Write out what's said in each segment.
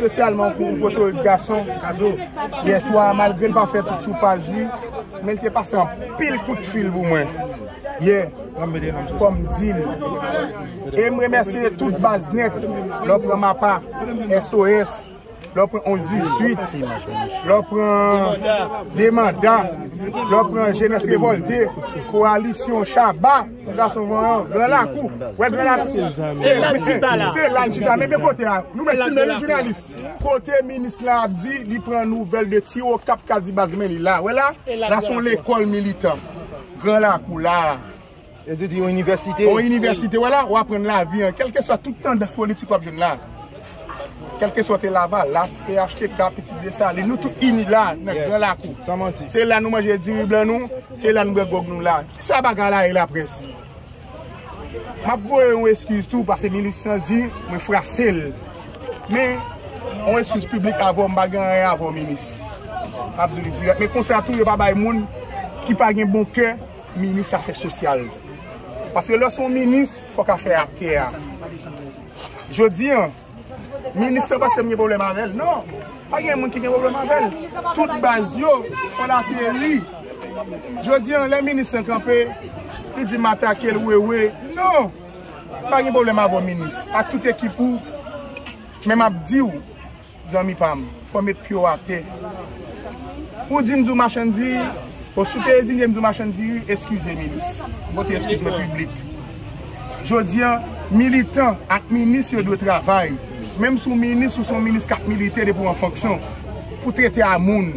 Spesyalman pou yon foto yon gason Kazo yeswa malgre l pa fè tout sou paj li men l te pase anpil kout fil pou mwen. Ye, kòm dil. E m remèsye tout baz nèt, lè w pran Mapa, SOS, lè w pran 11 18, lè w pran Demanda, lè w pran Jenès Revòlte, Kowalisyon, Shaba, Gason Vanyan, Gran Lakou. Wè Gran Lakou? Se la n chita la. Se la n chita. Men men kote a. Nou menm ki menm jounalis. Kote minis lan ap di li pran nouvèl de ti Okap k ap di baz men li la. Wè la? La s on lekòl militan. Gran lakou laa. Yo di di yon inivèsite. Yon inivèsite wè la, ou aprann lavi an. Kèlke swa tout tandans politik wap jwenn la. Kèlke swa te lavalas, phtk, pitit Desalin, nou tout ini la nan gran lakou. Se la nou manje diri blan nou, se la nou bwè gwòg nou la. Kisa bagay la e laprès? Map voye yon eskiz tou pase minis lan di mwen frase l. Men yon eskiz piblik avè w m pa gen anyen avè w minis. Map di li dirèk. Men konsa tou yo pa bay moun ki pa gen bon kè minis afè sosyal. Pase lè se yon minis fòk afè atè a. Jodi an. Minis lan paske m gen pwoblèm avè l. Non! Pa gen moun ki gen pwoblèm avè l. Tout baz yo fè l ateri. Jodi an, lè minis lan kanpe, li di m atake l wewe. Non! M pa gen pwoblèm avè w minis. Ak tout ekip ou. Men m ap di w, zanmi pa m. Fò met pyew ate. Ou dim du machann diri o sou te ezilyem du machann diri eskize minis. M pote eskiz mwen piblik. Jodi an militan ak minis yo dwe travay menm sou minis ou son minis kap milite depi w an fonksyon pou trete a moun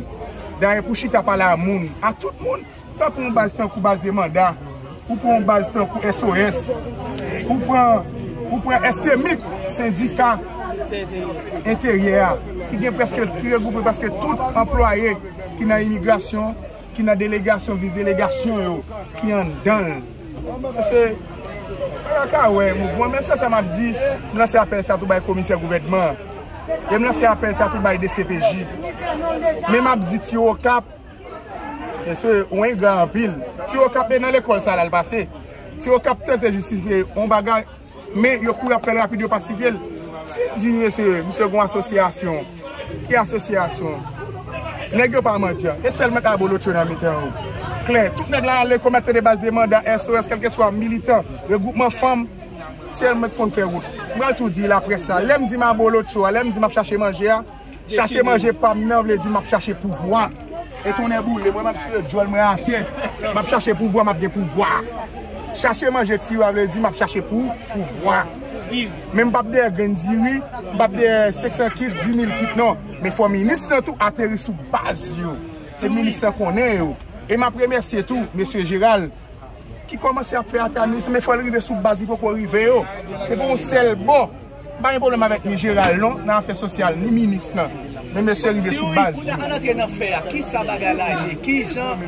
dayè pou chita pale a moun a tout moun. Pa pran yon baz tankou baz de manda, ou pran yon baz tankou SOS, ou pran, ou pran STMIC, sendika enteryè a, ki gen prèske, ki regwoupe prèske tout anplwaye ki nan imigrasyon, ki nan delegasyon, vis delegasyon yo, ki anndan l. Paske, pa ka wè mouvman, men sèl sa m ap di, m lanse apèl sa tou bay komisè gouvènman an, e m lanse apèl sa tou bay dcpj, men m ap di ti Okap. Mesye ou engra anpil. Ti okap e nan lekol sa lal pase. Ti okap tante jistifye yon bagay men yo kouri aprel rapid yo pasifyel. Si n di mesye misye gon asosyasyon ki asosyasyon? Neg yo pa mandyan e selman abolotcho nan mitan yo. Klè tout neg la ale komèt tande baz demanda SOS kelkeswa militan regroupman fanm selman ki konn fè wout. M pral tou di laprès la lem di m abolotcho a lem di map chache manje a. Chache manje pam nan vle di map chache pouvwa e tonnè boule mwen map sere dyòl mwen atè map chache pouvwa map gen pouvwa chache manje ti wa vle di map chache pou pouvwa men m pap dèyè grenn diri m pap dèyè 500 kit 10000 kit non men fò minis lan tou ateri sou baz yo se minis lan konnen yo e map remèsye tou mesye jeral ki komanse ap fè ata minis men fòl rive sou baz li poko rive yo se pou yon sèl bò m pa gen pwoblèm avèk ni jeral non nan afè sosyal ni minis lan men mesye rive sou baz yo. Si w antre nan fè a kisa bagay la ye kijan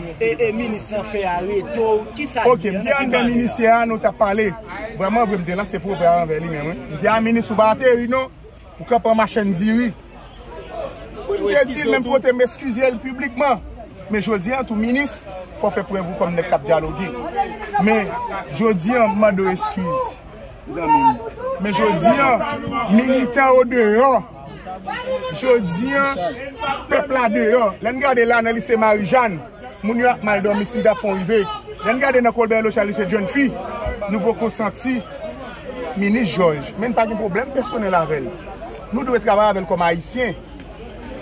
minis lan fè a rete w kisa l di an nan ki baz la. Ok m di anben ministè a nou tap pale vrèman vre m te lanse pwopè a anvè li menm wi m di a minis ou pa ateri non. Ou ka pran machann diri. Pou n te di l menm kote m eskize l piblikman. Men jodi an tou minis fò w fè prèv ou kòm nèg k ap dyaloge. Men jodi an m mande w eskiz zanmi m. Men jodi an militan yo deyò. Jodi an pèp la deyò. Lè n gade la nan lise Marijàn. Moun yo ap mal domi si mta fon rive. Lèn gade nan kolbè lo chali se jèn fi nou poko santi minis jòj men n pa gen pwoblèm pèsonèl avèl nou dwe travay avèl kòm ayisyen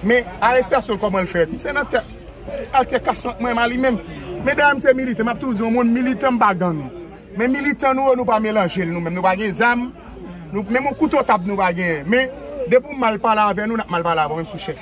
men arestasyon l kòman l fèt se nan tèt altèkasyon ant mwen m a li menm medayè m se militan m ap toujou di yon moun militan m pa gang men militan nou yo nou pa melanje l nou menm nou pa gen zam menm yon kouto tab nou pa genyen men depi w mal pale avè nou n ap mal pale avè w menm sou chèf.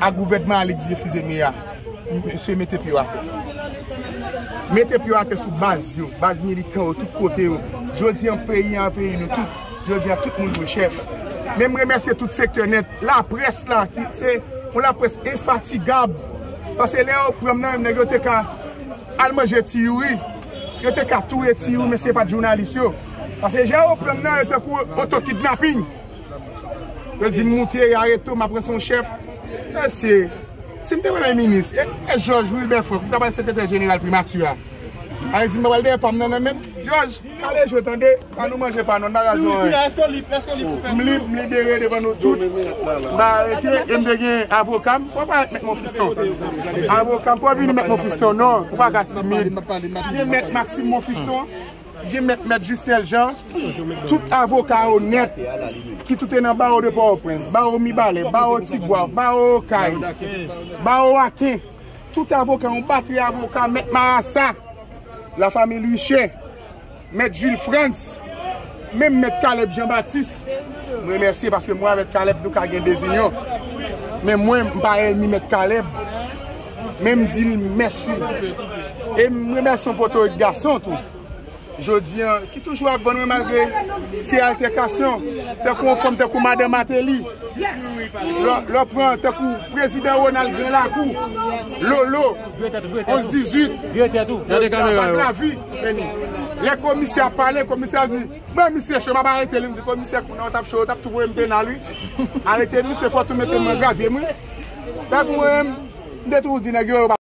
A gouvènman al egzefize mea. Mesye mete pye yo atè. Mete pye yo atè sou baz yo. Baz militan yo tout kote yo. Jodi an peyi an peyi nou tout. Jodi a tout moun dwe chèf. Menm remèsye tout sektè nèt. La près la ki se yon la près enfatigab. Pase lè yo pranm nan menm nèg yo te ka al manje ti youri. Yo te ka touye ti youri men se pat jounalis yo. Pase jan yo pranm nan yo tankou oto kidnaping. Yo dim moute ya reto map ranse yon chèf. Mesye, si m te premye minis, e Jòj Wilbè Frank, m ta pral sekretè jeneral primati a. Alè di m pa pral dèyè pa m nan nan menm. Jòj, kale je w tande, an nou manje pa nou, n pa pral di w anyen. M lib, m libere devan nou tout. M pa arete, e m te gen avoka m. Fò w pale ak mèt Monfiston. Avoka m, fò w vini mèt Monfiston, non, ou pa ka timid. M te mèt Maksim Monfiston. Gen mèt mèt Jusnel Jean, tout avoka onèt ki toute nan bawo de Port-au-Prince, bawo Mibalè, bawo Tigwav, bawo Okay, bawo Aken, tout avoka, yon batri avoka, mèt Marasa, la famille Luché, mèt Jules Frantz, menm mèt Caleb Jean Baptiste, m remèsye paske mwen avèk Caleb nou ka gen dezinyon, men mwen m pa èlmi mèt Caleb. Men m di l mèsi. E m remèsyon potorik gason tou. Jodi an, ki toujou ap vann mwen malgre ti altèkasyon. Tankou yon fanm tankou madan Mateli. Lè w pran tankou prezidan Ronald gran lakou. Lolo, 11, 18. Yo di la pa blavi. Lè komisè ap pale, komisè a di. Mwen misye cho map arete li m di komisè kounye a ou tap cho ou tap tou voye m penal wi arete misye fòk tou mete m nan gravyem wi tank mwen m te toujou di nèg yo yo pa